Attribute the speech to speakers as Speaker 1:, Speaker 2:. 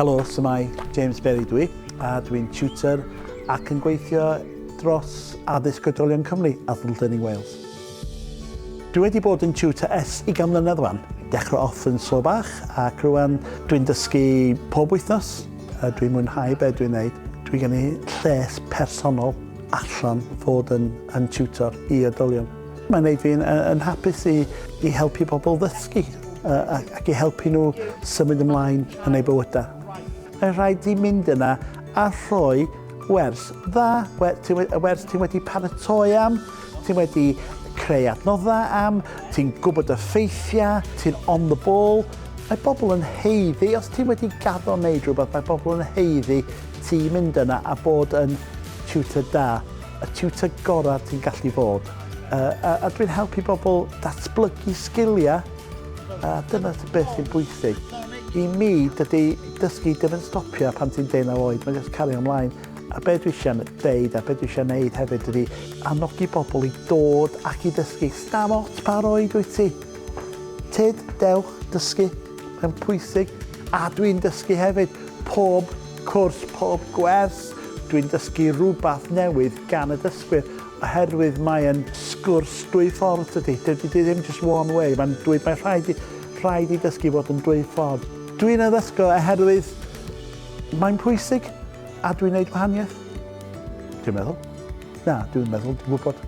Speaker 1: Helo, symau James Berry dwi, a dwi'n tutor ac yn gweithio dros addysg oedolion Cymru a Learning Wales. Dwi wedi bod yn tutor es i gan mlynedd wan, dechrau off yn slo bach ac rwan dwi'n dysgu pob wythnos a dwi'n mwynhau be dwi'n neud. Dwi gen i lles personol allan fod yn, yn tutor i oedolion. Mae'n gwneud fi'n yn hapus i, i helpu pobl ddysgu ac i helpu nhw symud ymlaen yn eu bywydau. Mae'n rhaid i mynd yna a rhoi wers dda, y wers ti'n wedi paratoi am, ti'n wedi creu adnoddau am, ti'n gwybod y ffeithiau, ti'n on the ball. Mae bobl yn heiddi, os ti'n wedi gaddo wneud rhywbeth, mae bobl yn heiddi ti mynd yna a bod yn tutor da. y tiwtor gorau ti'n gallu bod. A, a, a dwi'n helpu bobl datblygu sgiliau, a dyna beth sy'n bwysig. I mi, dydy dysgu ddim yn stopio pan ti'n 19 oed, mae'n just cario ymlaen. A be dwi eisiau dweud a be dwi eisiau gwneud hefyd ydy annogi bobl i dod ac i ddysgu. Stam ots pa roed wyt ti. Tyd, dewch, dysgu. Mae'n pwysig a dwi'n dysgu hefyd. Pob cwrs, pob gwers, dwi'n dysgu rhywbeth newydd gan y dysgwyr oherwydd mae'n sgwrs dwy ffordd dydy. Dydy di ddim just one way, mae'n dwy, mae rhaid i, rhaid i dysgu fod yn dwy ffordd. Dwi'n addysgo oherwydd mae'n pwysig a dwi'n neud gwahaniaeth. Dwi'n meddwl. Na, dwi'n meddwl, dwi'n gwybod.